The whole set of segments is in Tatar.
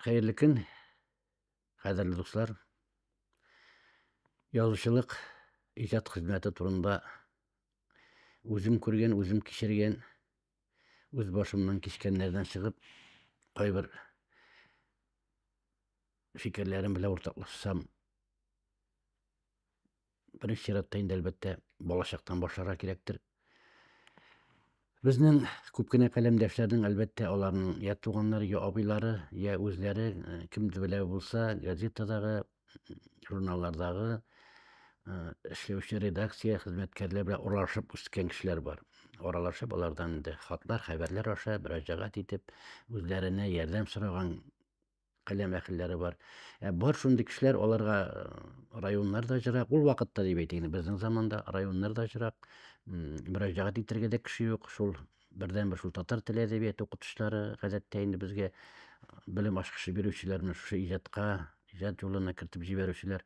Хәерле көн, кадерле дуслар. Язучылык иҗат хезмәте турында үзем күргән, үзем кичергән, үз башымнан кичкәннәрдән чыгып, кайбер фикерләрем белән уртаклашсам Беренче чиратта инде әлбәттә балачактан башларга кирәктер. Безнең күп кенә каләмдәшләрнең әлбәттә аларның я туганнары, я абыйлары, я үзләре э, кемдер белә булса газетадагы, журналлардагы э, эшләүче редакция хезмәткәрләре белән аралашып үскән кешеләр бар. Аралашып алардан инде хатлар, хәбәрләр аша мөрәҗәгать итеп, үзләренә ярдәм сораган каләм әхелләре бар. Ә бар шундый кешеләр, аларга э, районнар да җырак, ул вакытта дип әйтәйин, безнең заманда районнар да җырак, мөрәҗәгать итәргә дә кеше юк, шул бердән бер шул татар теле әдәбияты укытучылары гадәттә инде безгә белем ачкычы бирүчеләр менә шушы иҗатка, иҗат юлына кертеп җибәрүчеләр.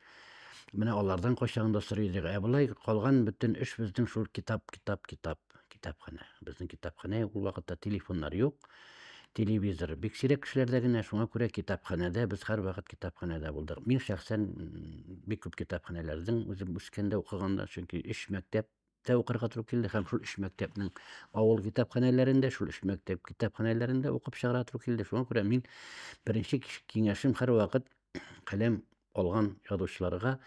Менә алардан кайчагында сорый идек. Ә болай калган бөтен эш безнең шул китап, китап, китап. китапханә. Безнең китапханә ул вакытта телефоннар юк, телевизор бик сирәк кешеләрдә генә, шуңа күрә китапханәдә, без һәрвакыт китапханәдә булдык. Мин шәхсән бик күп китапханәләрдең үзем үскәндә укыганда, чөнки өч мәктәптә укырга туры килде һәм шул өч мәктәпнең авыл китапханәләрендә, шул өч мәктәп китапханәләрендә укып чыгарга туры килде. Шуңа күрә мин беренче киңәшем һәрвакыт каләм алган язучыларга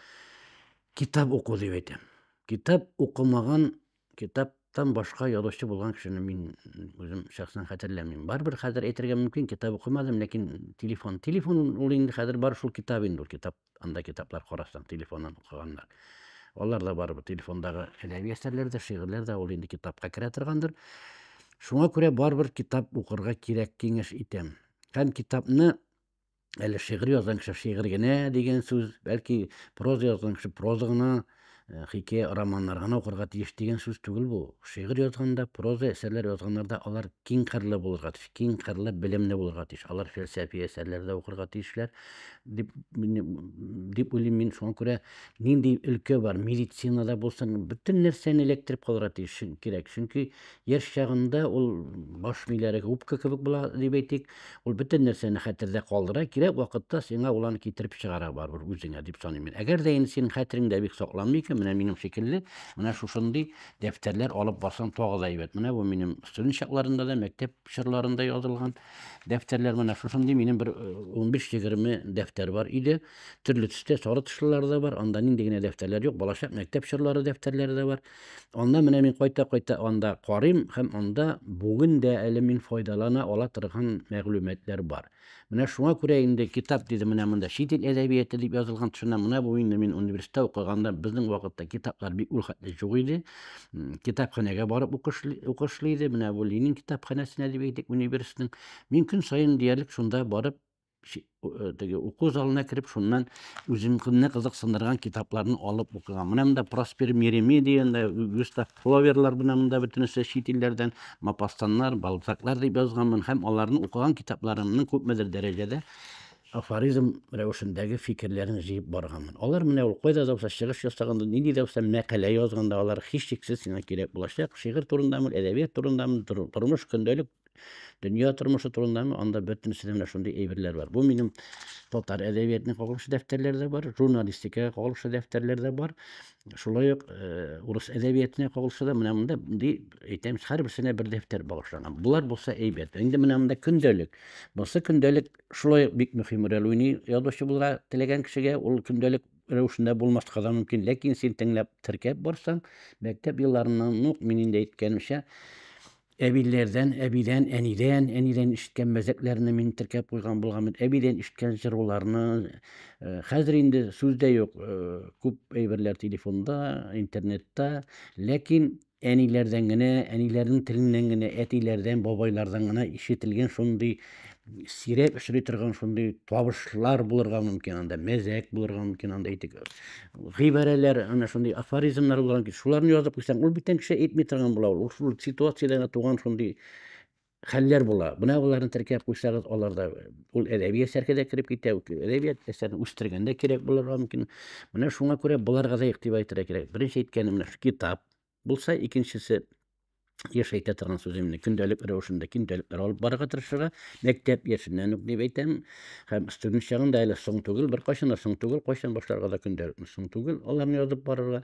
китап уку дип әйтәм. Китап укымаган Китаптан башка язучы булган кешене мин үзем шәхсән хәтерләмим. Барыбер хәзер әйтергә мөмкин, китап укымадым, ләкин телефон. Телефон ул инде хәзер бар шул китап инде ул китап. Анда китаплар карасаң, телефоннан укыганнар. Алар да барыбер телефондагы әдәби әсәрләр дә, шигырьләр дә ул инде китапка керә торгандыр. Шуңа күрә барыбер китап укырга кирәк киңәш итәм. Һәм китапны әле шигырь язган кеше шигырь генә дигән сүз, бәлки проза язган кеше проза гына, э, хикәя, романнар гына укырга тиеш дигән сүз түгел бу. Шигырь язганда, проза әсәрләр язганнарда алар киң кырлы булырга тиеш, киң кырлы белемле булырга тиеш. Алар фәлсәфи әсәрләр дә укырга тиешләр дип дип уйлыйм мин. Шуңа күрә нинди өлкә бар, медицинада булсын, бөтен нәрсәне эләктереп калырга тиеш кирәк. Чөнки Яшь чагында ул баш миләре губка кебек була, дип әйтик. Ул бөтен нәрсәне хәтердә калдыра, кирәк вакытта сиңа ул аны китереп чыгара барыбер үзеңә, дип саныйм мин. Әгәр дә инде синең хәтереңдә бик сакланмый икән, менә минем шикелле, менә шушындый дәфтәрләр алып барсаң тагы да әйбәт. Менә бу минем студент чакларында да, мәктәп чорларында язылган дәфтәрләр. Менә шушындый минем бер 15-20 э, дәфтәр бар иде. Төрле төстә сары тышлылары да бар, анда нинди генә дәфтәрләр юк, балачак, мәктәп чорлары дәфтәрләре дә бар. Аннан менә мин кайта-кайта анда карыйм һәм анда бүген дә әле мин файдалана ала торган мәгълүматлар бар. Менә шуңа күрә инде китап диде менә монда чит ил әдәбияты дип язылган төшенә менә бу инде мин университетта укыганда безнең вакытта китаплар бик ул хәтле юк иде. Китапханәгә барып укышлый иде. Менә бу Ленин китапханәсенә дип әйтик университетның. Мин көн саен диярлек шунда барып Э, теге уку залына кереп шуннан үземне кызыксындырган китапларны алып укыган менә монда проспер меремедия густав фловерлар менә монда бөтенесе чит илләрдән мапастаннар балзаклар дип язганмын һәм аларны укыган китапларымның күпмедер дәрәҗәдә афоризм рәвешендәге фикерләрен җыеп барганмын алар менә ул кайда да булса чыгыш ясаганда нинди дә булса мәкалә язганда алар һичшиксез сиңа кирәк булачак шигырь турындамы әдәбият турындамы тормыш көндәлек Дөнья тормышы турындамы, анда бөтенесе менә шундый әйберләр бар. Бу минем татар әдәбиятына кагылышлы дәфтәрләр дә бар, журналистикага кагылышлы дәфтәрләр дә бар. Шулай ук э, урыс әдәбиятына кагылышлы да менә монда ди әйтәм, һәрберсенә бер дәфтәр багышланган. Булар булса әйбәт. Инде менә монда көндәлек. Бусы көндәлек шулай бик мөһим роль уйный язучы булырга теләгән кешегә. Ул көндәлек рәвешендә булмаска да мөмкин, ләкин син тыңлап, теркәп барсаң, мәктәп елларыннан ук мин инде әйткәнемчә, Әбиләрдән, әбидән, әнидән, әнидән ишеткән мәзәкләрне мин теркәп куйган булган бит. Әбидән ишеткән җыруларны. Э, хәзер инде сүз дә юк. Э, күп әйберләр телефонда, интернетта. Ләкин әниләрдән генә, әниләрнең теленнән генә, әтиләрдән, бабайлардан гына ишетелгән шундый сирәк очрый торган шундый табышлар булырга мөмкин анда мәзәк булырга мөмкин анда әйтик гыйбарәләр ана шундый афоризмнар булырга мөмкин шуларны язып куйсаң ул бүтән кеше әйтми торган була ул шул ситуациядә генә туган шундый хәлләр була менә боларны теркәп куйсагыз аларда ул әдәби әсәргә дә кереп китә әдәбият әсәрен үстергәндә кирәк булырга мөмкин менә шуңа күрә боларга да игътибар итәргә кирәк беренче әйткәнем менә китап булса, икенчесе еш әйтә торган сүземне көндәлек рәвешендә көндәлек алып барырга тырышырга мәктәп яшеннән үк дип әйтәм һәм студент чагында әле соң түгел беркайчан да соң түгел кайчан башларга да көндәлекне соң түгел аларны язып барырга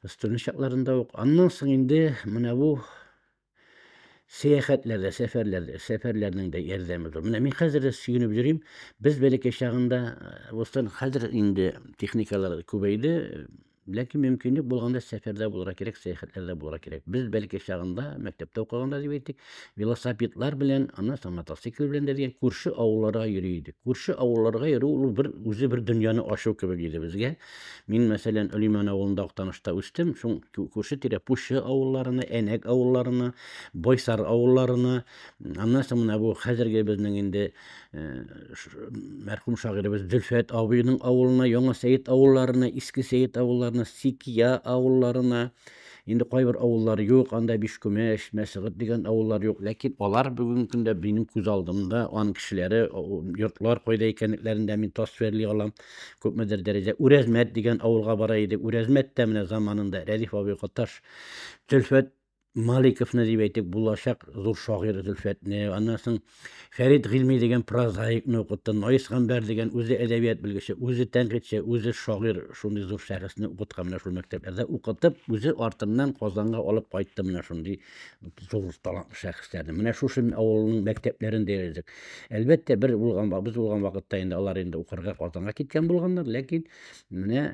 студент чакларында ук аннан соң инде менә бу сәяхәтләрдә, сәфәрләрдә, сәфәрләрнең дә ярдәме зур. Менә мин хәзер дә сөенеп йөрим. Без бәләкәй чагында Бостан хәзер инде техникалар күбәйде, ләкин мөмкинлек булганда сәфәрдә булырга кирәк, сәяхәтләрдә булырга кирәк. Без бәләкәй чагында, мәктәптә укыганда дип әйтик, велосипедлар белән, аннан соң мотоцикл белән дә дигән күрше авылларга йөри идек. Күрше авылларга йөрү ул бер үзе бер дөньяны ачу кебек иде безгә. Мин, мәсәлән, Олиман авылында Актанышта үстем, шуң күрше тирә Пущы авылларына, Әнәк авылларына, Бойсар авылларына, аннан соң менә бу хәзерге безнең инде э, мәрхүм шагыйребез Зөлфәт абыйның авылына, Яңа Сәет авылларына, Иске Сәет авылларына, Сикия авылларына, инде кайбер авыллар юк, анда Бишкүмәш, Мәсгыт дигән авыллар юк, ләкин алар бүгенге көндә минем күз алдымда, аның кешеләре, йортлар кайда икәнлекләрен дә мин тасвирли алам. Күпмедер дәрәҗә Үрәзмәт дигән авылга бара иде. Үрәзмәт тә менә заманында Рәдиф абый Каташ Зөлфәт Маликовны дип әйтик, булачак зур шагыйрь Зөлфәтне, аннан соң Фәрид Гыйльми дигән прозаикны укытты, Наис Гамбәр дигән үзе әдәбият белгече, үзе тәнкыйтьче, үзе шагыйрь, шундый зур шәхесне укыткан менә шул мәктәпләрдә укытып, үзе артыннан Казанга алып кайтты менә шундый зур талантлы шәхесләрне менә шушы авылның мәктәпләрен диярлек әлбәттә бер булган без булган вакытта инде алар инде укырга казанга киткән булганнар ләкин менә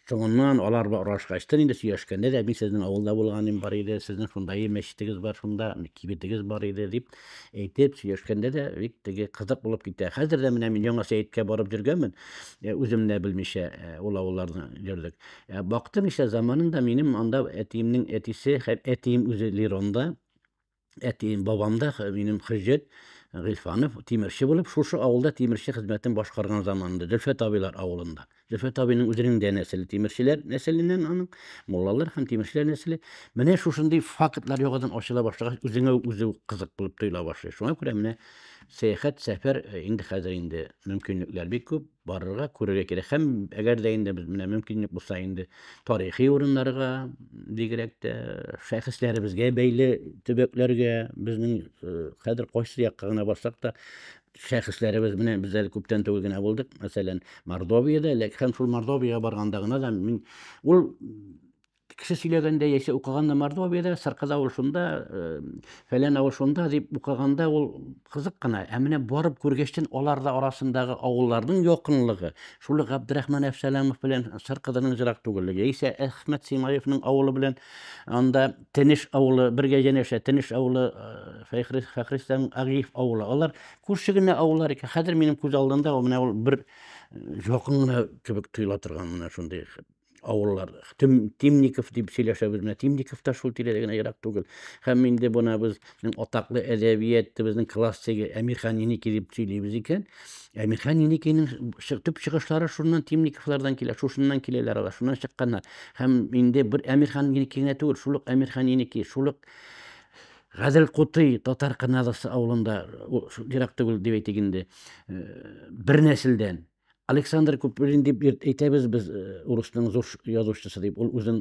соңыннан алар орашкачтын инде сөйләшкәндә дә мин сезнең авылда булганым бар иде сезнең шундай мәчетегез бар шунда кибетегез бар иде дип әйтеп сөйләшкәндә дә бик теге кызык булып китә хәзер дә менә мин яңа сәеткә барып йөргәнмен үзем дә белмичә ул авылларны йөрдек Ә бактым исә заманында минем анда әтиемнең әтисе һәм әтием үзе Лиронда, әтием бабамда минем Хөҗҗәт Гыйлфанов тимерче булып, шушы авылда тимерче хезмәтен башкарган заманында, Зөлфәт абыйлар авылында. Зөлфәт абыйның үзенең дә нәселе тимерчеләр нәселеннән аның, муллалар һәм тимерчеләр нәселе. Менә шушындый фактлар яңадан ачыла башлагач, үзеңә үзе кызык булып тоела башлый. Шуңа күрә менә сәяхәт, сәфәр э, инде хәзер инде мөмкинлекләр бик күп. барырга, күрергә кирәк. Һәм әгәр дә инде без менә мөмкинлек булса инде тарихи урыннарга, бигрәк тә шәхесләребезгә бәйле төбәкләргә, безнең э, хәзер кайсы якка гына барсак та шәхесләребез менә без әле күптән түгел генә булдык, мәсәлән, Мордовиядә, ләкин һәм шул Мордовиягә барганда гына да мин ул Кеше сөйләгәндә яисә укыганда Мордовиядә, Сыркыда ул шунда, фәлән авыл шунда дип укыганда ул кызык кына. Ә менә барып күргәчтен алар да арасындагы авылларның якынлыгы, шул Габдрахман Әфсәламов белән Сыркыданың җырак түгеллеге, яисә Әхмәт Симаевның авылы белән анда Тенеш авылы бергә янәшә, Тенеш авылы Фәхри Фәхристан Агиев авылы. Алар күрше генә авыллар икән. Хәзер минем күз алдында ул менә ул бер якын гына кебек тоела торган менә шундый авыллар Тем, Темников дип сөйләшәбез менә Темников та шул тирәдә генә ерак түгел һәм инде бына безнең атаклы әдәбиятыбызның классигы Әмирхан Еники дип сөйлибез икән Әмирхан Еникинең төп чыгышлары шуннан Темниковлардан килә шушыннан киләләр алар шуннан чыкканнар һәм инде бер Әмирхан Еники генә түгел шул ук Әмирхан Еники шул ук Гадел Кутый татар Канадасы авылында ерак түгел дип әйтик инде э, бер нәселдән Александр Куприн дип әйтәбез без э, урысның зур язучысы дип. Ул үзен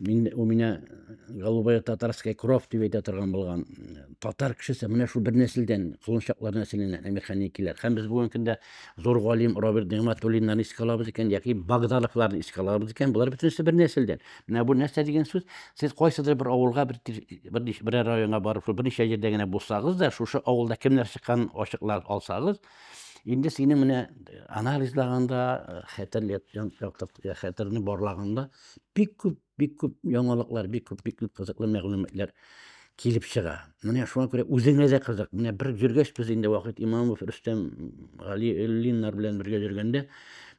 мин у меня э, голубая татарская кровь дип әйтә торган булган э, татар кешесе менә шул бер нәселдән, колынчаклар нәселеннән әмирханникиләр. Һәм без бүгенге көндә зур галим Роберт Нигматуллиннан искә алабыз икән, яки Багдаловларны искә алабыз икән. Болар бөтенесе бер нәселдән. Менә бу нәрсә дигән сүз? Сез кайсыдыр бер авылга бер бер, бер районга барып, шул берничә җирдә генә булсагыз да, шушы авылда кемнәр чыккан ачыклар алсагыз, Инде сине менә э, анализлаганда, э, хәтер яктыртуга, хәтерне барлаганда бик күп, бик күп яңалыклар, бик күп, бик күп кызыклы мәгълүматлар килеп чыга. Менә шуңа күрә үзеңә дә кызык. Менә бер йөргәч без инде вакыт Имамов, Рөстәм, Гали Эллиннар белән бергә йөргәндә,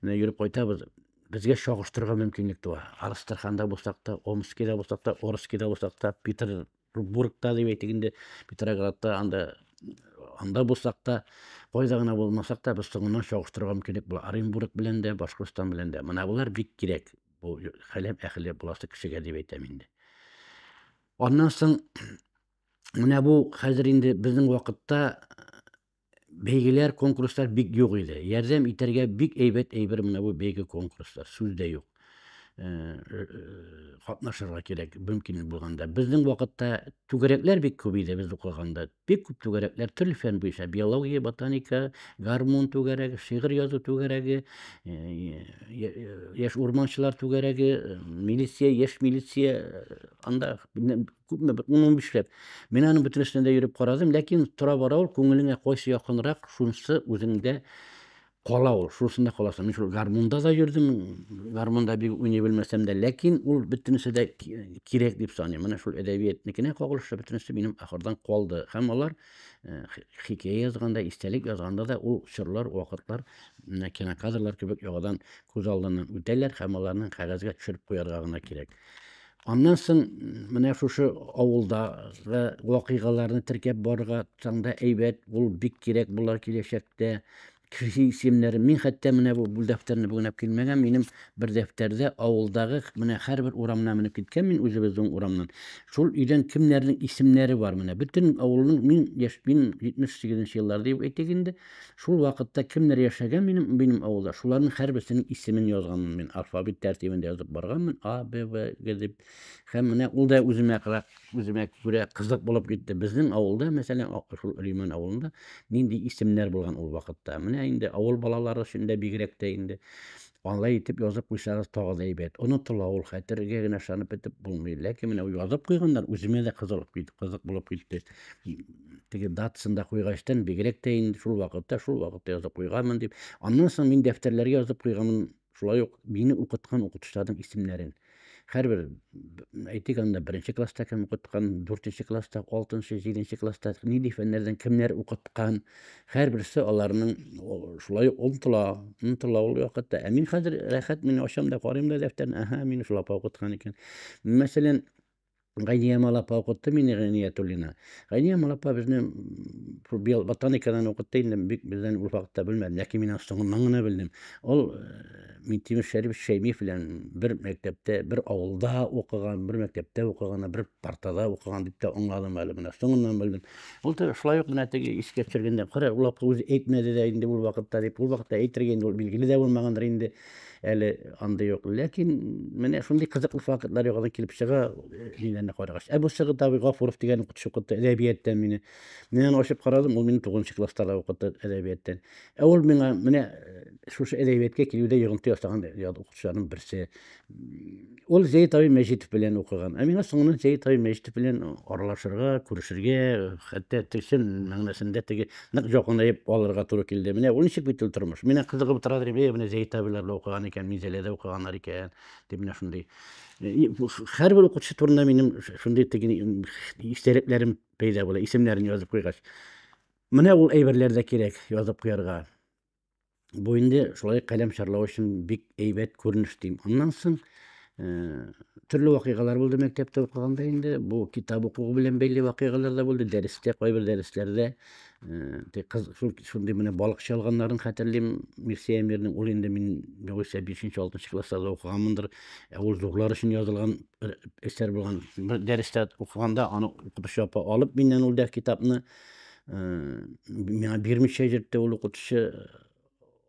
менә йөреп кайтабыз. Безгә чагыштырырга мөмкинлек туа. Арыстырханда булсак та, Омскида булсак та, Орскида булсак та, Питер Рубургта дип әйтик инде, Петроградта, анда анда булсак та, кайда гына булмасак та, без соңыннан чагыштыруга мөмкинлек була. Оренбург белән дә, Башкортстан белән дә. Менә болар бик кирәк. Бу хәләп әхеле буласы кешегә дип әйтәм инде. Аннан соң менә бу хәзер инде безнең вакытта Бәйгеләр, конкурслар бик юк иде. Ярдәм итәргә бик әйбәт әйбер менә бу бәйге конкурслар. Сүз дә юк. Э, э, катнашырга кирәк, мөмкин булганда. Безнең вакытта түгәрәкләр бик күп иде без укыганда. Бик күп түгәрәкләр төрле фән буенча, биология, ботаника, гармун түгәрәге, шигырь язу түгәрәге, яшь урманчылар түгәрәге, милиция, яшь милиция, анда күпме бер ун унбишләп мин аның бөтенесенә дә йөреп карадым ләкин тора бара ул күңелеңә кайсы якынрак шунысы үзеңдә кала ул шунысында каласың мин шул гармунда да йөрдем гармунда бик уйный белмәсәм дә ләкин ул бөтенесе дә кирәк дип саныйм менә шул әдәбиятнекенә кагылышлы бөтенесе минем ахырдан калды һәм алар э, хикәя язганда истәлек язганда да ул чорлар вакытлар менә кинокадрлар кебек яңадан күз алдыннан үтәләр һәм аларны кәгазьгә төшереп куярга гына кирәк Аннан соң менә шушы авылда вакыйгаларны теркәп барырга таңда әйбәт, ул бик кирәк була киләчәктә. Кеше исемнәре, мин хәтта менә бу бүл дәфтәрне бүгенәп килмәгән, минем бер дәфтәрдә авылдагы менә һәрбер урамына менеп киткән мин үзебезнең урамнан. Шул өйдән кемнәрнең исемнәре бар менә. Бөтен авылның мин яшь мин 78 нче еллар дип әйтик инде. Шул вакытта кемнәр яшәгән минем минем авылда, шуларның һәрберсенең исемен язганмын мин, алфавит тәртибендә язып барганмын, А, Б, В, Г дип. Һәм менә ул да үземә кырак, үземә күрә кызык булып китте. Безнең авылда, мәсәлән, шул Риман авылында нинди исемнәр булган ул вакытта. Менә инде авыл балалары өчен дә бигрәк тә инде алай итеп язып куйсагыз тагы да әйбәт. Онытыла ул, хәтергә генә ышанып бетеп булмый. Ләкин менә язып куйганнар, үземә дә кызык булып китте. теге датасын да куйгачтан, бигрәк тә инде шул вакытта, шул вакытта язып куйганмын дип. Аннан соң мин дәфтәрләргә язып куйганмын, шулай ук мине укыткан укытучыларның исемнәрен. Һәрбер әйтик анда беренче класста кем укыткан, дүртенче класста, алтынчы, җиденче класста нинди фәннәрдән кемнәр укыткан, һәрберсе аларның шулай ук онтыла, онтыла ул вакытта. Ә мин хәзер рәхәт, мин ачам да, карыйм да дәфтәрне, аһа, мин шул апа укыткан икән. Мәсәлән, Гайния Малапа укытты мине Гайниятуллина. Гайния Малапа безне шул био ботаникадан укытты инде бик бездән ул вакытта белмәдем, ләкин мин соңыннан гына белдем. Ул э, Минтимер Шәриф Шәймиев белән бер мәктәптә, бер авылда укыган, бер мәктәптә укыган, бер партада укыган дип тә аңладым әле менә. Соңыннан белдем. Ул да шулай ук менә теге искә төшергәндә, кара, ул вакытта үзе әйтмәде дә инде ул вакытта дип, ул вакытта әйтергә инде ул билгеле дә булмагандыр инде. әле андый юк. Ләкин менә шундый кызыклы фактлар яңадан килеп чыга мине карагач. Ә бу Сыгыт абый Гафуров дигән укытучы укытты әдәбияттан мине. Мин аны ачып карадым, ул мине 9 класста да укытты әдәбияттан. Ә ул миңа менә шушы әдәбиятка килүдә йогынты ясаган укытучыларның берсе. Ул Зәйт абый Мәҗитов белән укыган. Ә миңа соңыннан Зәйт абый Мәҗитов белән аралашырга, күрешергә, хәтта төсен мәгънәсендә теге нык якынаеп алырга туры килде. Менә ул ничек бит ул тормыш. Менә кызыгып тора дим, менә Зәйт абыйлар да укыган икән, Минзәләдә укыганнар икән, дип менә шундый. Һәрбер укытучы турында минем шундый теге истәлекләрем пәйда була, исемнәрен язып куйгач. Менә ул әйберләр дә кирәк язып куярга. Бу инде шулай каләм чарлау өчен бик әйбәт күренеш дим. Аннан соң э, төрле вакыйгалар булды мәктәптә укыганда инде. Бу китап укуы белән бәйле вакыйгалар да булды. Дәрестә, кайбер дәресләрдә э, кыз шундый менә балык чалганнарын хәтерлим. Мирсәя Мирнең ул инде мин югыйсә 5-6 класста да укыганмындыр. Ә ул зурлар өчен язылган әсәр булган. Дәрестә укыганда аны укытучы апа алып миннән ул дә китапны миңа бирмичә йөртте ул укытучы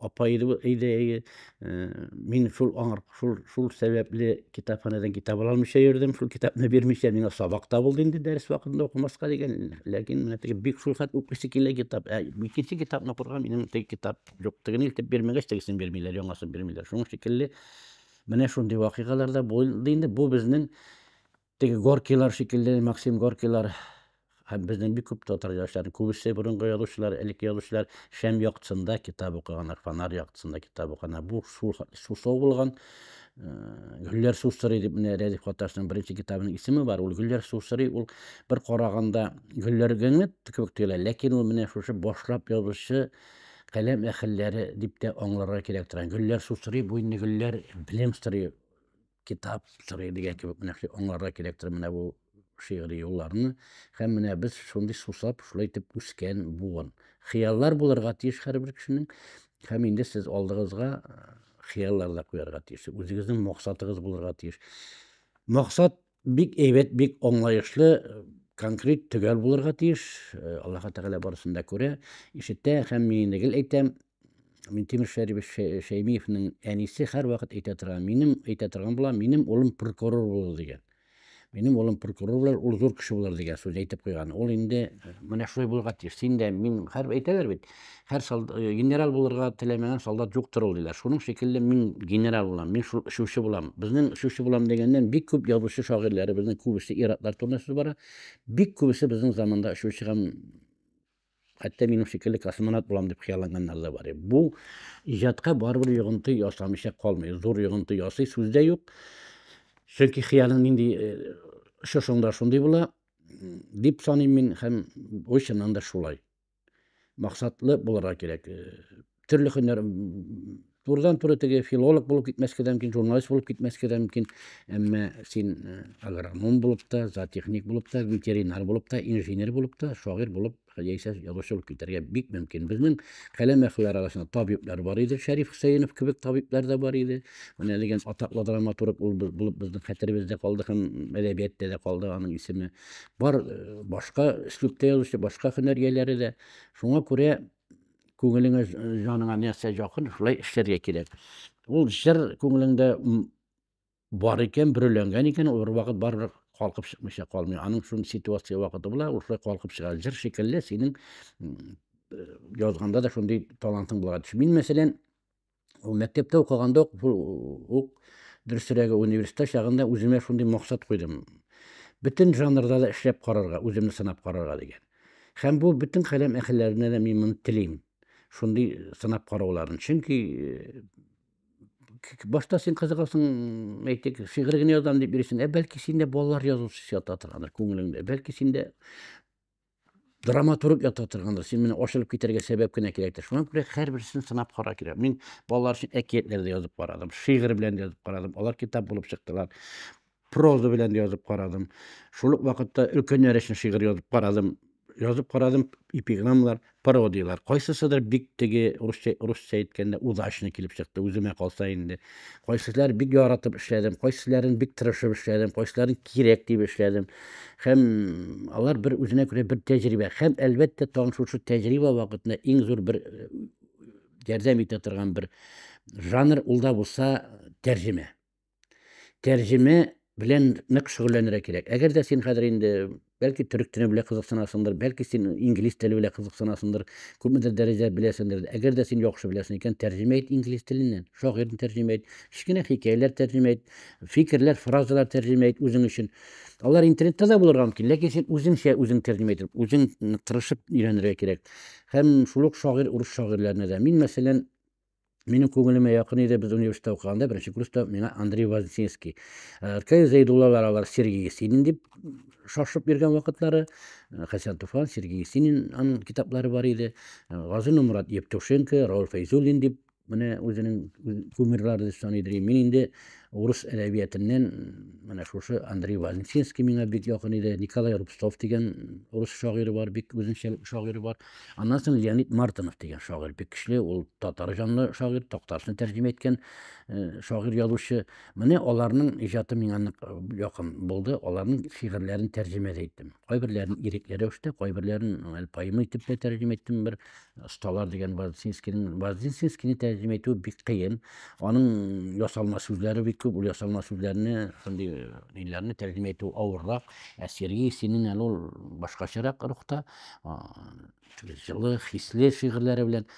апа иде бу өйдә әйе мин шул аңар шул шул сәбәпле китапханәдән китап ала алмыйча йөрдем шул китапны бирмичә миңа сабак та булды инде дәрес вакытында укымаска дигән ләкин менә теге бик шул хәт укыйсы килә китап ә икенче китапны укырга минем теге китап юк тегене илтеп бирмәгәч тегесен бирмиләр яңасын бирмиләр шуның шикелле менә шундый вакыйгалар да булды инде бу безнең Теге Горкилар шикелле, Максим Горкилар һәм безнең бик күп татар язучылары, күбесе борынгы язучылар, элекке язучылар шәм яктысында китап укыганнар, фонарь яктысында китап укыганнар. Бу шул сусау булган. Э, Гөлләр су сорый дип менә Рәдиф Каташның беренче китабының исеме бар. Ул Гөлләр су сорый, ул бер караганда гөлләр генә кебек тоела, ләкин ул менә шушы башлап язучы каләм әхелләре дип тә аңларга кирәк торган. Гөлләр су сорый, бу инде гөлләр белем сорый китап сорый дигән кебек менә шулай аңларга кирәктер менә бу шигъри юлларны һәм менә без шундый сусап шулай итеп үскән буын хыяллар булырга тиеш һәрбер кешенең һәм инде сез алдыгызга хыяллар да куярга тиеш үзегезнең максатыгыз булырга тиеш максат бик әйбәт бик аңлаешлы конкрет төгәл булырга тиеш аллаһы тәгалә барысын да күрә ишетә һәм мин инде гел әйтәм Минтимер Шәрибов Шәймиевнең әнисе һәрвакыт әйтә торган, минем әйтә торган була, минем улым прокурор булыр дигән. Минем улым прокурор булыр, ул зур кеше булыр дигән сүз әйтеп куйган. Ул инде э, менә шулай булырга тиеш. Син дә мин һәр әйтәләр бит. Һәр солдат э, генерал булырга теләмәгән солдат юктыр ул диләр. Шуның шикелле мин генерал булам, мин шул эшүче булам. Безнең эшүче булам дигәннән бик күп язучы шагыйрьләре безнең күбесе иратлар турында сүз бара. Бик күбесе безнең заманда эшүче һәм Хәтта минем шикелле космонавт булам дип хыялланганнар да бар. Бу иҗатка барыбер йогынты ясамыйча калмый. Зур йогынты ясый, сүз дә юк. Чөнки хыялың нинди шушыңда э, шундый була, дип саныйм мин һәм бу чыннан да шулай. Максатлы булырга кирәк. Э, төрле хөннәр турыдан туры теге филолог булып китмәскә дә мөмкин журналист булып китмәскә дә мөмкин әмма син э, агроном булып та зоотехник булып та ветеринар булып та инженер булып та шагыйрь булып яисә язучы булып китәргә бик мөмкин безнең каләм әһелләре арасында табиблар бар иде шәриф хөсәенов кебек табиблар да бар иде менә дигән атаклы драматург ул булып безнең хәтеребездә калды һәм әдәбиятта да калды аның исеме бар э, башка өслүбтә язучы башка һөнәр ияләре дә шуңа күрә күңелеңә җаныңа нәрсә якын шулай эшләргә кирәк ул җыр күңелеңдә бар икән бөреләнгән икән ул бервакыт барыбер калкып чыкмыйча калмый аның шул ситуация вакыты була ул шулай калкып чыга җыр шикелле синең язганда да шундый талантың булырга тиеш мин мәсәлән Ул мәктәптә укыганда ук, ук дөресрәге университетта чагында үземә шундый максат куйдым. Бөтен жанрда да эшләп карарга, үземне сынап карарга дигән. Һәм бу бөтен каләм әһелләренә дә мин моны телим. Шундый сынап карауларын. Чөнки э, башта син кызыгасың, әйтик, шигырь генә язам дип йөрисең, ә бәлки синдә балалар язучысы ята торгандыр күңелеңдә. Бәлки синдә драматург ята торганда син менә ачылып китәргә сәбәп кенә кирәктер шуңа күрә һәрберсен сынап кара кирәк мин балалар өчен әкиятләр дә язып карадым шигырь белән дә язып карадым алар китап булып чыктылар проза белән дә язып карадым шул ук вакытта өлкәннәр өчен шигырь язып карадым язып карадым эпиграммалар пародиялар кайсысыдыр бик теге русча русча әйткәндә удачно килеп чыкты үземә калса инде Кайсылар бик яратып эшләдем, кайсыларын бик тырышып эшләдем, кайсыларын кирәк дип эшләдем. Һәм алар бер үзенә күрә бер тәҗрибә. Һәм әлбәттә, тагын шушы тәҗрибә вакытында иң зур бер э, ярдәм итә торган бер жанр ул да булса тәрҗемә. Тәрҗемә белән нык шөгыльләнергә кирәк. Әгәр дә син хәзер инде бәлки төрек теле белән кызыксынасыңдыр, бәлки син инглиз теле белән кызыксынасыңдыр, күпмедер дәрәҗәдә беләсеңдер. Әгәр дә син яхшы беләсең икән, тәрҗемә ит инглиз теленнән, шагыйрьне тәрҗемә ит, кечкенә хикәяләр тәрҗемә ит, фикерләр, фразалар тәрҗемә ит үзең өчен. Алар интернетта да булырга мөмкин, ләкин син үзеңчә үзең тәрҗемә итеп, үзең тырышып өйрәнергә кирәк. Һәм шул ук шагыйрь урыс шагыйрьләренә дә. Мин, мәсәлән, Минем күңелемә якын иде, без университетта укыганда, беренче курста миңа Андрей Вознесенский. Э, Ркай Зәйдуллалар алар Сергей Есенин дип шашып йөргән вакытлары. Э, Хәсән Туфан, Сергей Есенин аның китаплары бар иде. Э, Газин Мурат Евтушенко, Рауль Фәйзуллин дип менә үзенең кумирлары дип саный идем. Мин инде урыс әдәбиятыннан менә шушы Андрей Вознесенский миңа бик якын иде. Николай Рубцов дигән урыс шагыйре бар, бик үзенчәлекле шагыйре бар. Аннан соң Леонид Мартынов дигән шагыйрь бик көчле, ул татар җанлы шагыйрь, Такташны тәрҗемә иткән э, шагыйрь язучы. Менә аларның иҗаты миңа нык э, якын булды. Аларның шигырьләрен тәрҗемә дә иттем. Кайберләрен ирекле рәвештә, кайберләрен әле поэма итеп тә тәрҗемә иттем. Бер осталар дигән Вознесенскийның Вознесенскийны тәрҗемә итү бик кыен. Аның ясалма сүзләре бик күп, ул ясалма сүзләрне, шундый ниләрне тәрҗемә итү авыррак. Ә Сергей Есенин әле ул башкачарак рухта. җылы, хисле шигырьләре белән.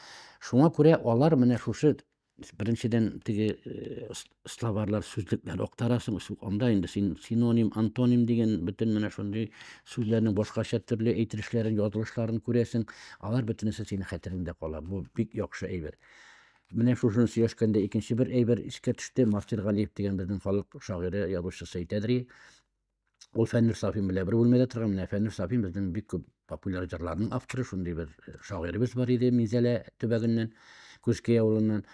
Шуңа күрә алар менә шушы беренчедән теге э, словарлар сүзлекләр актарасың анда инде син синоним антоним дигән бөтен менә шундый сүзләрнең башкача төрле әйтелешләрен язылышларын күрәсең алар бөтенесе синең хәтереңдә кала бу бик яхшы әйбер менә шушыны сөйләшкәндә икенче бер әйбер искә төште мастер галиев дигән безнең халык шагыйре язучысы әйтәдер Ул Фәннүр Сафин белән бер бүлмәдә торган. Менә Фәннүр Сафин безнең бик күп популяр җырларның авторы, шундый бер э, шагыйребез бар иде Минзәлә төбәгеннән, Күзкәй авылыннан.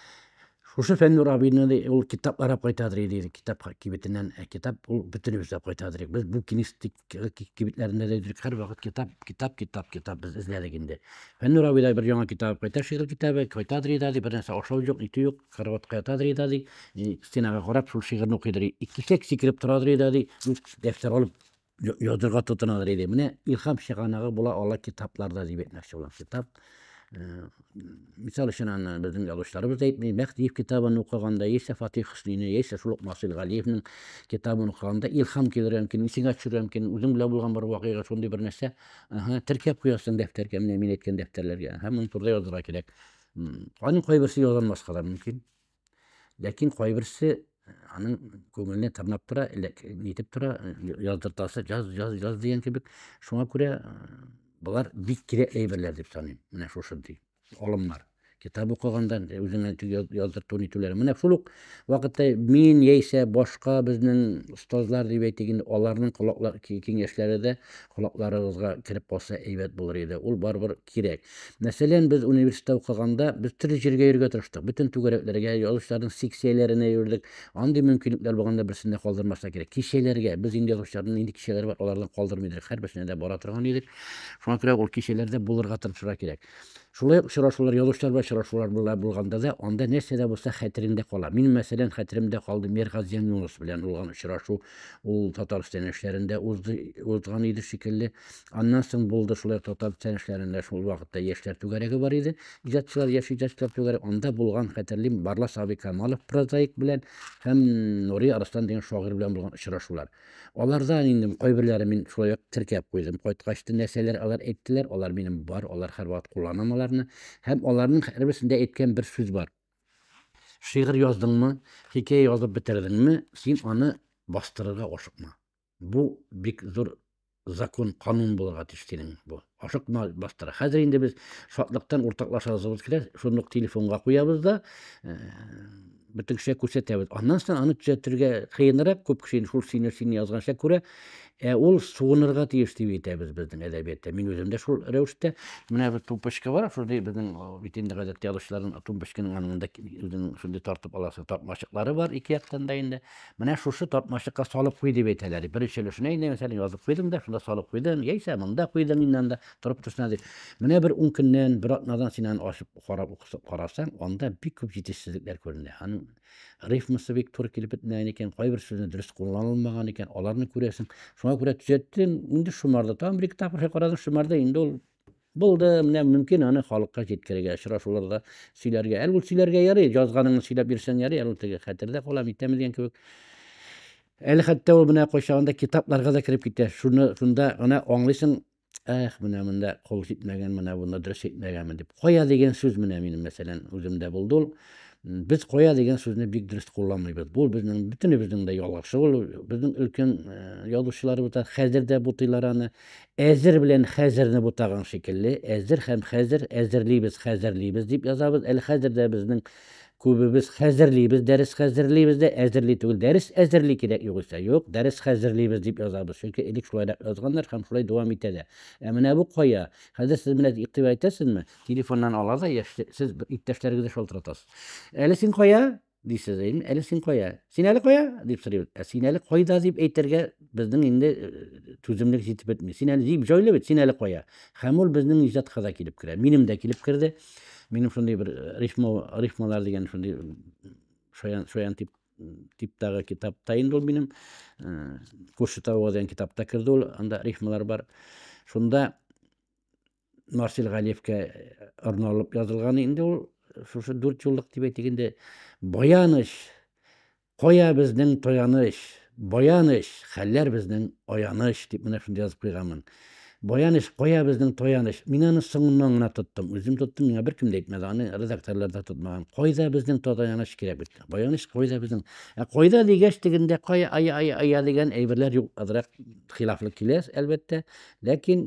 Шушы Фәннүр абыйны ул китапларап кайтадыр иде, китап кибетеннән. Ә китап ул бөтенебез дә кайтадыр. Без бу кенистик э, кибетләрендә дә йөрдек. Һәрвакыт китап, китап, китап, китап без эзләдек инде. Фәннүр абый да бер яңа китап кайта, шигырь китабы, кайтадыр иде, бер нәрсә ашау юк, итү юк. Караватка ятадыр иде, ди, стенага карап, шул шигырьне укыйдыр. Икешәк сикереп торадыр иде, ди, дәфтәр алып язырга тотынадыр иде. Менә илһам чыганагы була ала китапларда дип әйтмәкче булам. Китап мисал өчен аны безнең язучыларыбыз да әйтми мәхтиев китабын укыганда яисә фатих хөснини яисә шул ук насыйр галиевнең китабын укыганда илһам килергә мөмкин исеңә төшерергә мөмкин үзең белән булган бер вакыйга шундый бер нәрсә теркәп куясың дәфтәргә менә мин әйткән дәфтәрләргә һәм моны турыда язырга кирәк Аның кайберсе ялганмаска да мөмкин. Ләкин кайберсе аның күңеленә тырнап тора, нитеп тора, яздыртасы, яз, яз, яз дигән кебек. Шуңа күрә болар бик кирәк әйберләр дип саныйм. Менә шушындый алымнар. Китап укыганда үзеңә яздырту нитүләре. Менә шул ук вакытта мин яисә башка безнең остазлар дип әйтик инде, аларның колаклар киңәшләре дә колакларыгызга кереп калса әйбәт булыр иде. Ул барыбер кирәк. Мәсәлән, без университетта укыганда, без төрле җиргә йөргә тырыштык. Бөтен түгәрәкләргә, язучыларның секцияләренә йөрдек. Андый мөмкинлекләр булганда берсен дә калдырмаска кирәк. Кичәләргә, без инде язучыларның нинди кичәләре бар, аларны калдырмый идек. Һәрберсенә дә бара торган идек. Шуңа күрә ул кичәләрдә булырга тырышырга кирәк. Шулай ук очрашулар, язучылар белән очрашулар була булганда да, анда нәрсә дә булса хәтереңдә кала. Мин, мәсәлән, хәтеремдә калды Миргазиян Юныс белән булган очрашу. Ул Татарстан яшьләрендә узды, узган иде шикелле. Аннан соң булды шулай татар социаль эшләрендә шул вакытта яшьләр түгәрәге бар иде. Иҗатчылар, яшь иҗатчылар түгәрәге. Анда булган хәтерлим Барлас абый Камалов прозаик белән һәм Нури Арыслан дигән шагыйрь белән булган очрашулар. Аларда инде кайберләре мин шулай ук теркәп куйдым. Кайткач та нәрсәләр алар әйттеләр, алар минем бар, алар һәрвакыт кулланам аларны. Һәм аларның һәрберсендә әйткән бер сүз бар. Шигырь яздыңмы, хикәя язып бетердеңме, син аны бастырырга ашыкма. Бу бик зур закон, канун булырга тиеш синең бу. Ашыкма, бастыра. Хәзер инде без шатлыктан уртаклашасыбыз килә, шуны ук телефонга куябыз да, э, бөтен кешегә күрсәтәбез. Аннан соң аны төзәтергә кыенрак, күп кеше шул сине сине язганча күрә. Ә ул сугынырга тиеш дип әйтәбез безнең әдәбиятта. Мин үзем дә шул рәвештә. Менә бер тумпочка бар, шундый безнең бит инде гадәттә язучыларның тумпочканың янында үзенең шундый тартып аласы тапмачыклары бар ике яктан да инде. Менә шушы тартмачыкка салып куй дип әйтәләр. Беренче өлешенә инде мәсәлән язып куйдың да, шунда салып куйдың, яисә монда куйдың инде анда торып торсын әле. Менә бер ун көннән, бер атнадан син аны ачып карап укысып карасаң, анда бик күп җитешсезлекләр күренә. Аның рифмасы бик туры килеп бетмәгән икән, кайбер сүзне дөрес кулланылмаган икән, аларны күрәсең. Шуңа күрә төзәттең, инде шомарда тагын бер-ике тапкыр карадың, шомарда инде ул Булды, менә мөмкин аны халыкка җиткерергә, очрашуларда сөйләргә. Әле ул сөйләргә ярый, язганыңны сөйләп бирсәң ярый, әле ул теге хәтердә кала, митәм дигән кебек. Әле хәтта ул менә кайчагында китапларга да кереп китә. Шуны шунда гына аңлыйсың, эх, менә монда кол җитмәгән, менә бунда дөрес әйтмәгәнмен дип. Кая дигән сүз менә минем мәсәлән үземдә булды ул. Без кая дигән сүзне бик дөрес кулланмыйбыз. Бу безнең бөтенебезнең дә ялгышы ул. Безнең өлкән язучыларыбыз да хәзер дә бутыйлар аны. Әзер белән хәзерне бутаган шикелле, әзер һәм хәзер, әзерлибез, хәзерлибез дип язабыз. Әле хәзер дә безнең күбебез хәзерлибез, дәрес хәзерлибез дә, әзерли түгел. Дәрес әзерли кирәк югыйсә. Юк, дәрес хәзерлибез дип язабыз. Чөнки элек шулайрак язганнар һәм шулай дәвам итә дә. Ә менә бу кая? Хәзер сез менә игътибар итәсезме? Телефоннан ала да яшьли, сез иптәшләрегезне шалтыратасыз. Әле син кая? Дисез, әле син кая? Син әле кая? дип сорыйбыз. Ә син әле кайда дип әйтергә безнең инде түземлек җитеп бетми. Син әле җип җайлы бит, син әле кая? Һәм ул безнең иҗатка да килеп керә. Минем дә килеп керде. Минем шундый бер рифма рифмалар дигән шундый шаян шаян тип типтагы китапта инде ул минем Кушетауга дигән китапта керде ул. Анда рифмалар бар. Шунда Марсель Галиевкә арналып язылган инде ул шушы дүрт юллык дип әйтик инде баяныч кая безнең таяныч баяныч хәлләр безнең аяныч дип менә шундый язып куйганмын баяныч кая безнең таяныч мин аны соңыннан гына тоттым үзем тоттым миңа беркем дә әйтмәде аны редакторлар да тотмаган кайда безнең таяныч кирәк бит баяныч кайда безнең ә кайда дигәч тегендә кая ая ая ая дигән әйберләр юк азрак хилафлы килә әлбәттә Ләкин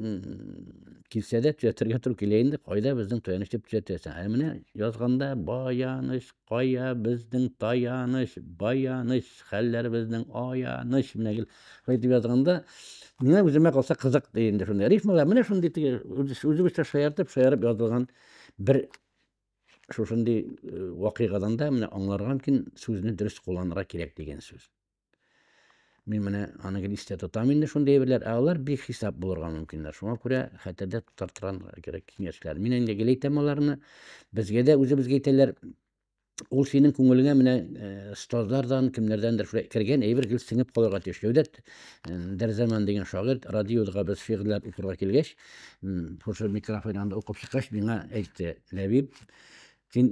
килсә дә төзәтергә туры килә инде, кайда безнең таяныч дип төзәтәсең. Ә менә язганда баяныч, кая безнең таяныч, баяныч, хәлләр безнең аяныч, менә гел шулай дип язганда, менә үземә калса кызык ди инде шундый. Рифмалар менә шундый теге үзебезчә шаяртып, шаярып язылган бер шушындый э, вакыйгадан да менә аңларга мөмкин сүзне дөрес кулланырга кирәк дигән сүз. Мин менә аның листә тотам инде шундый әйберләр, ә алар бик хисап булырга мөмкиннәр. Шуңа күрә хәтердә тотартырган кирәк киңәшләр. Мин инде гел әйтәм аларны. Безгә дә үзебезгә әйтәләр, ул синең күңелеңә менә стозлардан, кемнәрдәндер шулай кергән әйбер гел сеңеп калырга тиеш. Җәүдәт Дәрзаман дигән шагыйрь радиода без шигырьләр укырга килгәч, шушы микрофон янында укып чыккач, миңа әйтте, Ләбиб, Син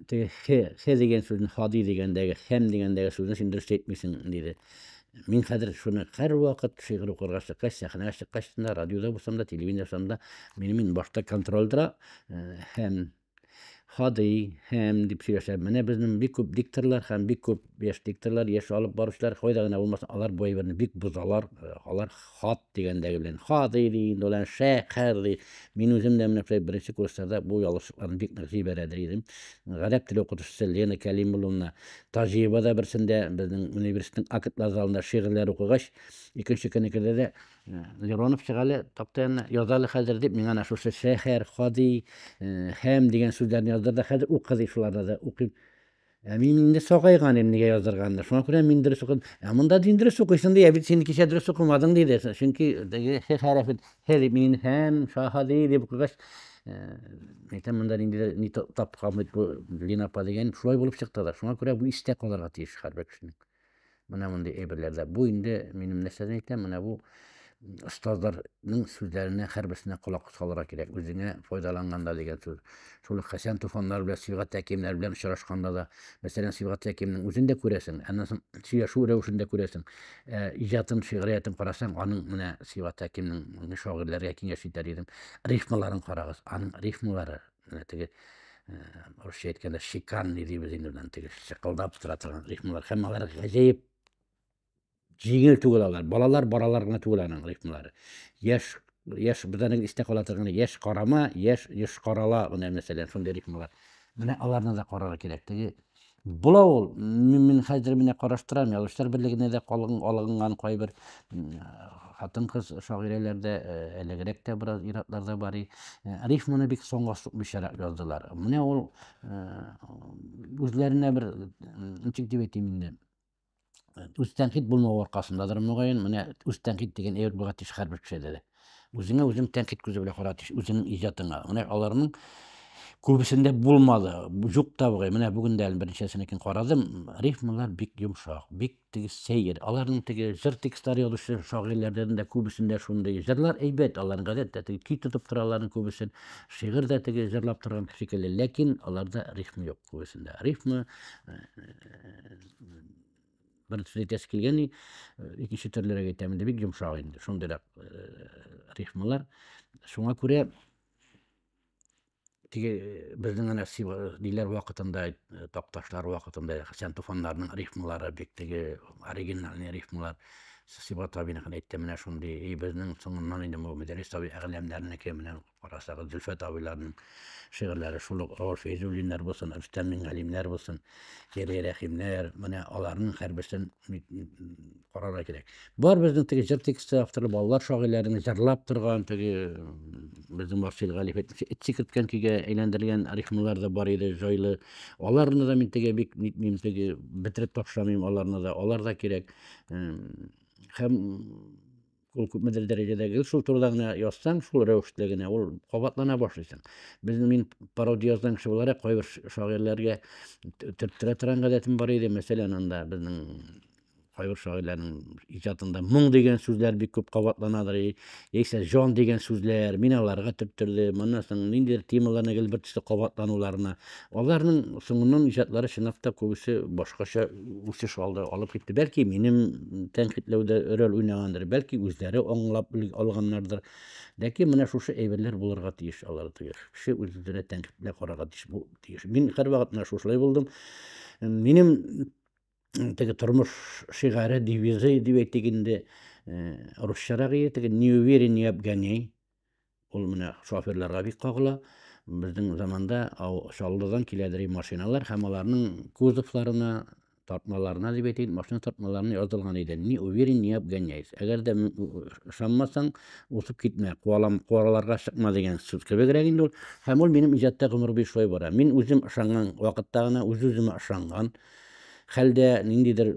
теге хе, хе дигән сүзне, хади дигәндәге, хәм дигәндәге сүзне син дөрес әйтмисең, диде. Мин хәзер шуны һәрвакыт шигырь укырга чыккач, сәхнәгә чыккач та, радиода булсам да, телевидение булсам да, мине мин башта контроль тора, һәм хади, һәм дип сөйләшәм. Менә безнең бик күп дикторлар һәм бик күп яшь дикторлар, яшь алып баручылар, кайда гына булмасын, алар бу әйберне бик бозалар, алар Хат дигәндәге белән хадый ди инде ул әнә шәкәр ди. Мин үзем дә менә шулай беренче курсларда бу ялгышлыкларны бик нык җибәрәдер идем. Гарәп теле укытучысы Лена Кәлимулловна Таҗиева да берсендә безнең университетның актлар залында шигырьләр укыгач, икенче көнне керде дә, «Э, Леронов чыга әле такта янына, яз әле хәзер дип, миңа әнә шушы шәһәр, хадый, э, һәм дигән сүзләрне яздырды. Хәзер укы ди, шуларны да укыйм. Ә мин инде сагайган идем, нигә язырга анда. Шуңа күрә мин дөрес укыдым. Ә монда дин дөрес укыйсың ди, ә бит син кичә дөрес укымадың диде. Чөнки теге х хәрәфе х дип мин һәм шаһади дип укыгач, әйтәм монда ниндидер ни тапкан бит бу Лина апа дигән, шулай булып чыкты да. Шуңа күрә бу истә калырга тиеш һәрбер кешенең. Менә мондый әйберләрдә. Бу инде минем нәрсәдән әйтәм, менә бу остазларның сүзләренә һәрберсенә колак салырга кирәк. Үзеңә файдаланганда дигән сүз. Шул ук Хәсән Туфаннар белән Сибгат Тәкиемнәр белән очрашканда да, мәсәлән, Сибгат Тәкиемнең үзен дә күрәсең, аннан соң сөйләшү рәвешен дә күрәсең. Ә иҗатын, шигъриятен карасаң, аның менә Сибгат Тәкиемнең шагыйрьләргә киңәш итәр идем. Рифмаларын карагыз, аның рифмалары менә теге русча әйткәндә шиканный дибез инде белән теге шыкылдап тора торган рифмалар һәм алар гаҗәеп җиңел түгел алар балалар баралар гына түгел аның рифмалары яшь яшь безнең истә кала торган яшь карама яшь еш карала менә мәсәлән шундый рифмалар менә аларны да карарга кирәк теге Була ул. Мин, мин хәзер менә караштырам, язучылар берлегенә дә калгын алынган кайбер хатын-кыз шагыйрәләр дә, әлегрәк тә бераз иратлар да бар. Рифманы бик соңга сукмыйчарак яздылар. Менә ул үзләренә бер, ничек дип әйтим инде, үз тәнкыйть булмау аркасындадыр мөгаен менә үз тәнкыйть дигән әйбер булырга тиеш һәрбер кешедә дә үзеңә үзең тәнкыйть күзе белән карарга тиеш үзеңнең иҗатыңа менә аларның күбесендә булмады юк та бугай менә бүген дә әле берничәсенекен карадым рифмалар бик йомшак бик теге сәер аларның теге җыр текстлары язучы шагыйрьләрдән дә күбесендә шундый җырлар әйбәт аларның гадәттә теге көй тотып тора аларның күбесен шигырь дә теге җырлап торган шикелле ләкин аларда рифм юк күбесендә рифмы э, бер сүз әйтәсе килгән и икенче төрлерәк әйтәм инде бик йомшак инде шундыйрак рифмалар шуңа күрә теге безнең әнә ниләр вакытында такташлар вакытында хәсән туфаннарның рифмалары бик теге оригинальный рифмалар сибат абиныкын әйтте менә шундый и безнең соңыннан инде бу мөдәррис абый әгъләмнәренеке менә Карасагыз, Зөлфәт абыйларның шигырьләре шул ук авыр Фәйзуллиннар булсын, Рөстәм Миңгалимнәр булсын, Гәрәй Рәхимнәр, менә аларның һәрберсен карарга кирәк. Бар безнең теге җыр тексты авторы балалар шагыйрьләрен җырлап торган теге безнең Марсель Галиев әйтмешә, эт сикерткән көйгә әйләндерелгән рифмалар да бар иде, җайлы. Аларны да мин теге бик нитмим, теге бетереп ташламыйм аларны да, алар да кирәк. Һәм ул күпмедер дәрәҗәдә гел шул турыда гына язсаң, шул рәвешле генә ул кабатлана башлыйсың. Безнең мин пародия язган кеше буларак кайбер шагыйрьләргә төрттерә торган гадәтем бар иде. Мәсәлән, анда безнең кайбер шагыйрьләрнең иҗатында моң дигән сүзләр бик күп кабатланадыр, яисә җан дигән сүзләр. Мин аларга төрттердем. Моннан соң ниндидер темаларны гел бер төсле кабатлануларына Аларның соңыннан иҗатлары чынлап та күбесе башкача үсеш алды, алып китте. Бәлки минем тәнкыйтьләүдә роль уйнагандыр, бәлки үзләре аңлап алганнардыр. Ләкин менә шушы әйберләр булырга тиеш алар тиеш. Кеше үз-үзенә тәнкыйтьле карарга тиеш бу тиеш. Мин һәрвакыт менә шушылай булдым. Минем теге тормыш шигаре, девизы дип әйтик инде, э, русчарак ие, теге не уверен, не обгоняй. Ул менә шоферларга бик кагыла. Безнең заманда Чаллыдан киләдер и машиналар һәм аларның кузовларына, тартмаларына дип әйтәйин, машина тартмаларына язылган иде. Не уверен, не обгоняйсь. Әгәр дә ышанмасаң, узып китмә, куалам, куаларга чыкма дигән сүз кебегрәк инде ул. Һәм ул минем иҗатта гомер буе шулай бара. Мин үзем ышанган вакытта гына, үз-үземә ышанган хәлдә ниндидер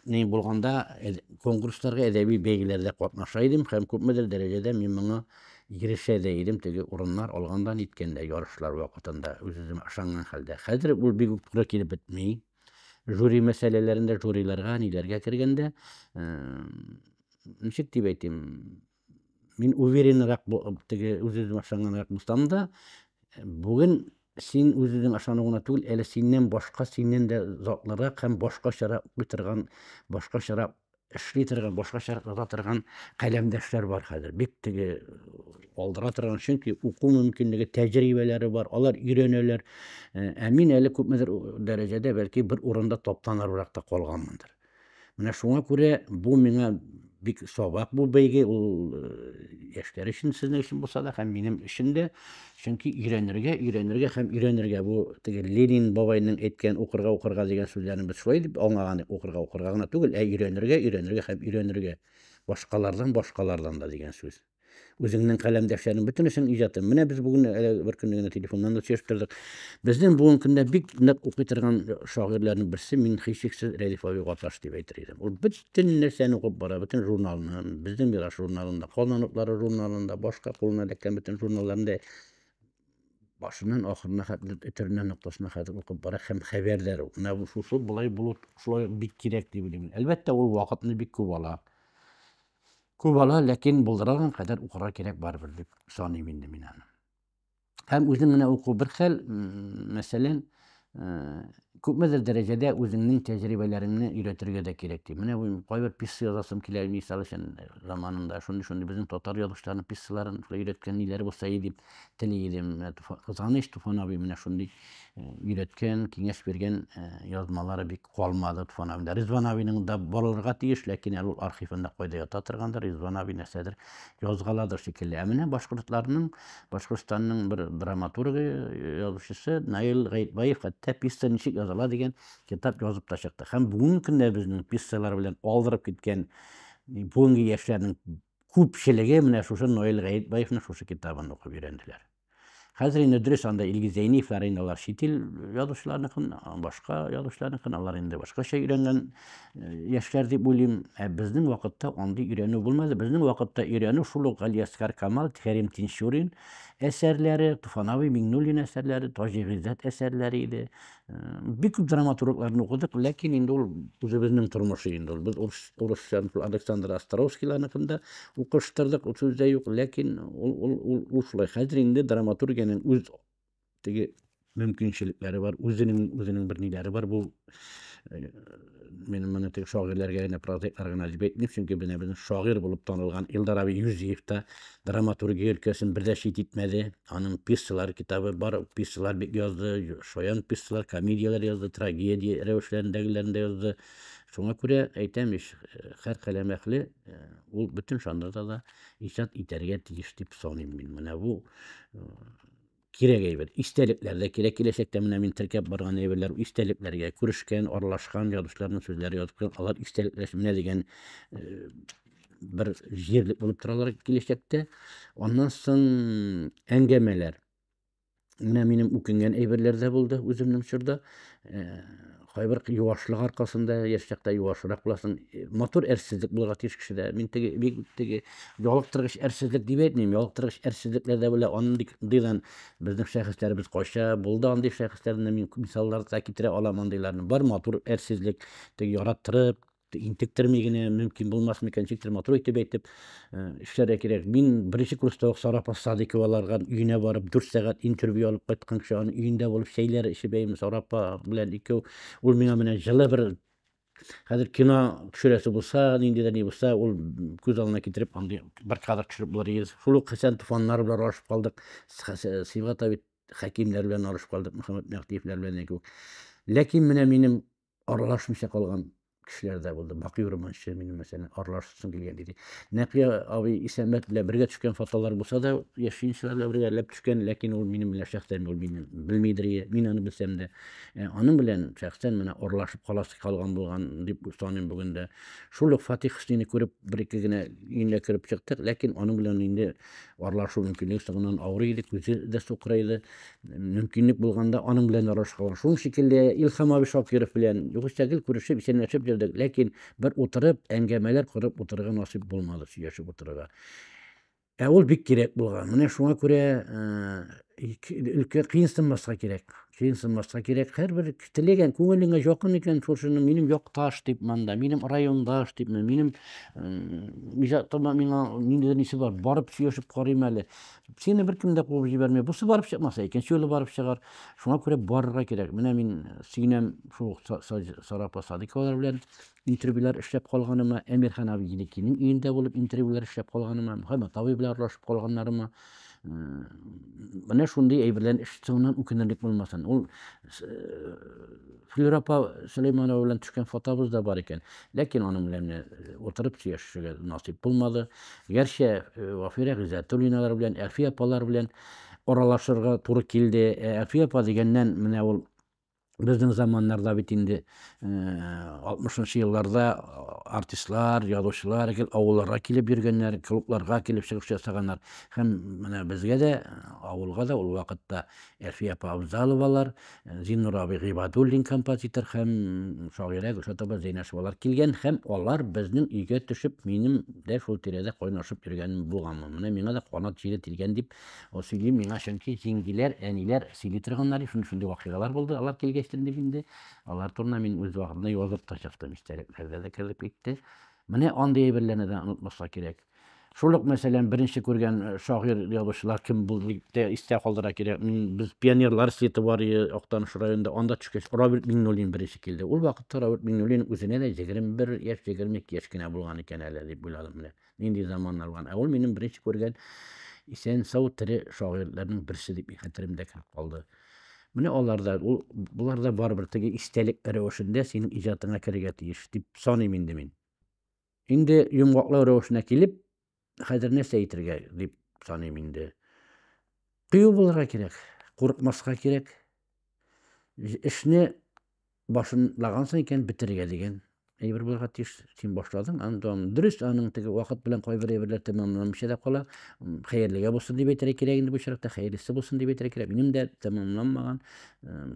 Ни булганда конкурсларга, әдәби бәйгеләрдә катнаша идем һәм күпмедер дәрәҗәдә мин моңа ирешә дә идем, теге урыннар алганда, ниткәндә ярышлар вакытында үз-үземә ышанган хәлдә. Хәзер ул бик үк туры килеп бетми. Жюри мәсьәләләрендә, жюриларга, ниләргә кергәндә, ничек дип әйтим, Мин уверенрак теге үз-үземә ышанганрак булсам да, бүген син үз-үзең ышану гына түгел, әле синнән башка, синнән дә затлырак һәм башкачарак укый торган, башкачарак эшли торган, башкачарак яза торган каләмдәшләр бар хәзер. Бик теге алдыра торган, чөнки уку мөмкинлеге, тәҗрибәләре бар, алар өйрәнәләр. Ә мин әле күпмедер дәрәҗәдә, бәлки, бер урында таптаныррак та калганмындыр. Менә шуңа күрә бу миңа бик сабак бу бәйге, ул э, яшьләр өчен, сезнең өчен булса да һәм минем өчен дә. Чөнки өйрәнергә, өйрәнергә һәм өйрәнергә бу теге Ленин бабайның әйткән укырга, укырга дигән сүзләрен без шулай дип аңлаган идек, укырга, укырга гына түгел, ә өйрәнергә, өйрәнергә һәм өйрәнергә. Башкалардан, башкалардан да дигән сүз. үзеңнең каләмдәшләрең бөтенесен иҗатын. Менә без бүген әле бер көнне генә телефоннан да сөйләшеп тордык. Безнең бүгенге көндә бик нык укый торган шагыйрьләрнең берсе мин һичшиксез Рәдиф абый Гаташ дип әйтер идем. Ул бөтен нәрсәне укып бара, бөтен журналны, безнең Мираш журналында, Казан утлары журналында, башка кулына эләккән бөтен журналларында башыннан ахырына хәтле төтөренә ноктасына хәтле укып бара һәм хәбәрдар ул. Менә шусы болай булу шулай бик кирәк дип уйлыйм. Әлбәттә, ул вакытны бик күп ала. Күп ала, ләкин булдырган кадәр укырга кирәк барыбер дип саныйм инде мин аны. Һәм үзем менә уку бер хәл, мәсәлән, э, күпмедер дәрәҗәдә үзеңнең тәҗрибәләреңне өйрәтергә дә кирәк ди. Менә бу кайбер писса язасым килә, мисал өчен заманында шундый-шундый безнең татар язучыларының писсаларын өйрәткән ниләр булса и дип. тели идем. Менә Туфан, кызганыч, Туфан абый менә шундый өйрәткән, киңәш биргән язмалары бик калмады Туфан абыйда. Ризван абыйның да булырга тиеш, ләкин әле ул архивында кайда ята торгандыр, Ризван абый нәрсәдер язгаладыр шикелле. Ә менә башкортларның, Башкортстанның бер драматургы, язучысы Наил Гаетбаев хәтта пьеса ничек языла дигән китап язып та чыкты. Һәм бүгенге көндә безнең пьесалар белән алдырып киткән бүгенге яшьләрнең күпчелеге менә шушы Ноэль Гаетбаевның шушы китабын укып өйрәнделәр. Хәзер инде дөрес анда Илгиз Зәйниевлар инде алар чит ил язучыларыныкын, башка язучыларыныкын, алар инде башкача өйрәнгән э, яшьләр дип уйлыйм. Ә безнең вакытта андый өйрәнү булмады. Безнең вакытта өйрәнү шул ук Галиәскар Камал, Кәрим Тинчурин әсәрләре, Туфановый Миңнуллин әсәрләре, Таҗи Гыйззәт әсәрләре иде. бик күп драматургларны укыдык, ләкин инде ул үзебезнең тормышы инде ул. Без урыс урысча Александр Островскийларныкын да укыштырдык, ул сүз дә юк, ләкин ул ул ул ул шулай. Хәзер инде драматургиянең үз теге мөмкинчелекләре бар, үзенең үзенең бер ниләре бар бу. мин моны тек шагыйрьләргә генә прозаиклар гына дип әйтмим чөнки менә безнең шагыйрь булып танылган илдар абый юзиев та драматургия өлкәсен бер дә чит итмәде аның пьесалар китабы бар пьесалар бик язды шаян пьесалар комедияләр язды трагедия рәвешләрендәгеләрен дә язды шуңа күрә әйтәм ич һәр каләм әхле ул бөтен жанрда да иҗат итәргә тиеш дип саныйм мин менә бу кирәк әйбер. Истәлекләр дә кирәк. Киләчәктә менә мин теркәп барган әйберләр истәлекләргә күрешкән, аралашкан язучыларның сүзләре язып куйган. Алар истәлекләр менә дигән э, бер җирлек булып торалар киләчәктә. Аннан соң әңгәмәләр. Менә минем үкенгән әйберләр дә булды үземнең чорда. Э, кайбер юашлык аркасында яшь чакта юашрак буласың э, матур әрсезлек булырга тиеш кешедә мин теге бик теге ялыктыргыч әрсезлек дип әйтмим ялыктыргыч әрсезлекләр дә белә андыйдан безнең шәхесләребез кача булды андый шәхесләрне мин мисаллар да китерә алам андыйларны бар матур әрсезлек теге яраттырып Интектерми генә мөмкин булмасмы икән, ничектер матур итеп әйтеп эшләргә кирәк. Мин беренче курста ук Сара Садыкова аларган өенә барып, дүрт сәгать интервью алып кайткан кеше, аның өендә булып чәйләр эчеп әйм Сара апа белән икәү. Ул миңа менә җылы бер хәзер кино төшерәсе булса, нинди дә ни булса, ул күз алдына китереп андый бер кадр төшереп булыр иде. Шул ук Хәсән Туфаннар белән аралашып калдык. Сибгат Абид Хәкимнәр белән аралашып калдык, Мөхәммәт Мәгътиевләр белән яки Ләкин менә минем аралашмыйча калган кешеләр дә булды. Бакый Урманчы минем мәсәлән аралашсын килгән иде. Нәкыя абый Исәнбәт белән бергә төшкән фотолар булса да, яшенчеләр белән бергә ләп төшкән, ләкин ул минем белән шәхсән ул мине белмидер, мин аны белсәм дә. Ә, аның белән шәхсән менә аралашып каласы калган булган дип саныйм бүген дә. Шул ук Фатих Хөснини күреп, бер-ике генә өенә кереп чыктык, ләкин аның белән инде Арлашу мөмкинлеге соңыннан авырый иде, күзе дә сукыра иде. Мөмкинлек булганда аның белән аралашкалар. Шуның шикелле Илхам абый Шакиров белән югыйсә гел күрешеп, исәнләшеп йөрдек, ләкин бер утырып, әңгәмәләр корып утырырга насыйп булмады, сөйләшеп утырырга. Ә ул бик кирәк булган. Менә шуңа күрә өлкә кыенсынмаска кирәк кыенсынмаска кирәк һәрбер теләгән күңелеңә якын икән шушыны минем якташ дип монда минем райондаш дип минем иҗатыма миңа ниндидер нәрсә бар барып сөйләшеп карыйм әле сине беркем дә куып җибәрмәй бусы барып чыкмаса икенче юлы барып чыгар шуңа күрә барырга кирәк менә мин сөенәм шул сарапа садыйковалар белән Интервьюлар эшләп калганыма, Әмирхан Абидиникинең өендә булып интервьюлар эшләп калганыма, Мөхәммәт абый белән аралашып калганнарыма, менә шундый әйберләрне ишетүемнән үкенерлек булмасын. Ул Флюра апа Сөләйманова белән төшкән фотабыз да бар икән. Ләкин аның белән утырып сөйләшергә насыйп булмады. Гәрчә Вафирә Гыйззәтуллиналар белән, Әлфия апалар белән аралашырга туры килде. Әлфия апа дигәннән, менә ул Безнең заманнарда бит инде 60-нчы елларда артистлар, язучылар гел авылларга килеп йөргәннәр, клубларга килеп чыгыш ясаганнар. Һәм менә безгә дә, авылга да ул вакытта Әлфия апа Абзаловалар, Зиннур абый Гыйбадуллин композитор һәм шагыйрә Гөлшат апа Зәйнәшевалар килгән һәм алар безнең өйгә төшеп, минем дә шул тирәдә кайнашып йөргәнем булганмы. Менә миңа да канат җиле тилгән дип Ул сөйли миңа, чөнки җиңгиләр, әниләр сөйли торганнар иде, шундый шундый вакыйгалар булды, алар килгәчтен дип инде. Алар турында мин үз вакытында язып та чыктым, истәлекләрдә дә кереп китте. Менә андый әйберләрне дә онытмаска кирәк. Шул ук, мәсәлән, беренче күргән э, шагыйрь язучылар кем булды дип тә истә калдыра кирәк. Мин без пионерлар слеты бар иде Актаныш районында, анда төшкәч Роберт Миңнуллин беренче килде. Ул вакытта Роберт Миңнуллин үзенә дә 21 яшь, 22 яшь кенә булган икән әле дип уйладым менә. нинди заманнар булган. Ә ул минем беренче күргән исән сау тере шагыйрьләрнең берсе дип хәтеремдә кереп калды. Менә алар да, ул, болар да барыбер теге истәлек рәвешендә синең иҗатыңа керергә тиеш дип саныйм инде мин. Инде йомгаклау рәвешенә килеп, хәзер нәрсә әйтергә дип саныйм инде. Кыю булырга кирәк, курыкмаска кирәк. Эшне башлагансың икән, бетерергә дигән әйбер булырга тиеш. Син башладың, аны дәвам. Дөрес, аның теге вакыт белән кайбер әйберләр тәмамланмыйча да кала. Хәерлегә булсын дип әйтергә кирәк инде бу чираттә, хәерлесе булсын дип әйтергә кирәк. Минем дә тәмамланмаган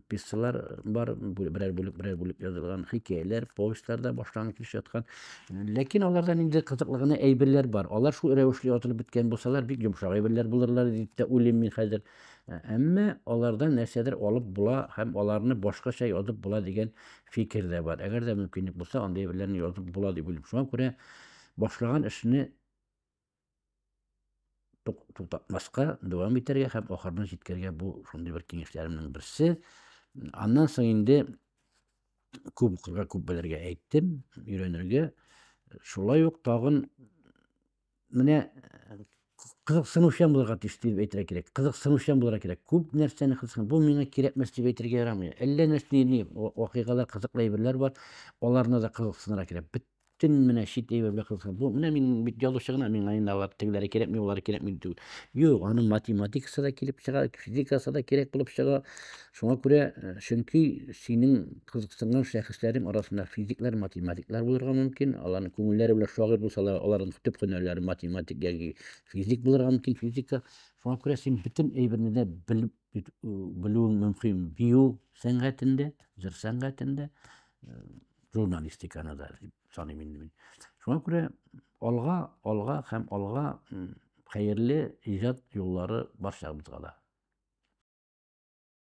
пьесалар бар, берәр бүлек, берәр бүлек язылган, хикәяләр, повестьлар да башланган килеш яткан. Ләкин аларда инде кызыклы гына әйберләр бар. Алар шул рәвешле язылып беткән булсалар, бик йомшак әйберләр булырлар дип тә уйлыйм мин хәзер. Ә, әмма алардан нәрсәдер алып була һәм аларны башкача язып була дигән фикер дә бар. Әгәр дә мөмкинлек булса, андый әйберләрне язып була дип уйлыйм. Шуңа күрә башлаган эшне тук- туктатмаска, дәвам итәргә һәм ахырына җиткәргә бу шундый бер киңәшләремнең берсе. Аннан соң инде күп укырга, күп белергә әйттем, өйрәнергә. Шулай ук тагын менә кызыксынучан булырга тиеш дип әйтергә кирәк кызыксынучан булырга кирәк күп нәрсәне кызыксын бу миңа кирәкмәс дип әйтергә ярамый әллә нәрсә ни вакыйгалар кызыклы әйберләр бар аларны да кызыксынырга кирәк бөтен менә чит әйбер белән кызыксын бу менә мин бит язучы гына миңа инде алар тегеләре кирәкми болары кирәкми түгел юк аны математикасы да килеп чыга физикасы да кирәк булып чыга шуңа күрә чөнки синең Кызыксынган шәхесләрем арасында физиклар, математиклар булырга мөмкин. Аларның күңелләре белән шагыйрь булсалар, аларның төп һөнәрләре математик яки физик булырга мөмкин, физика. Шуңа күрә син бөтен әйберне дә белеп бит- э, белүең мөмкин. Бию сәнгатендә, җыр сәнгатендә, э, журналистиканы да дип саныйм инде мин. Шуңа күрә алга, алга һәм алга м, хәерле иҗат юллары барчабызга да.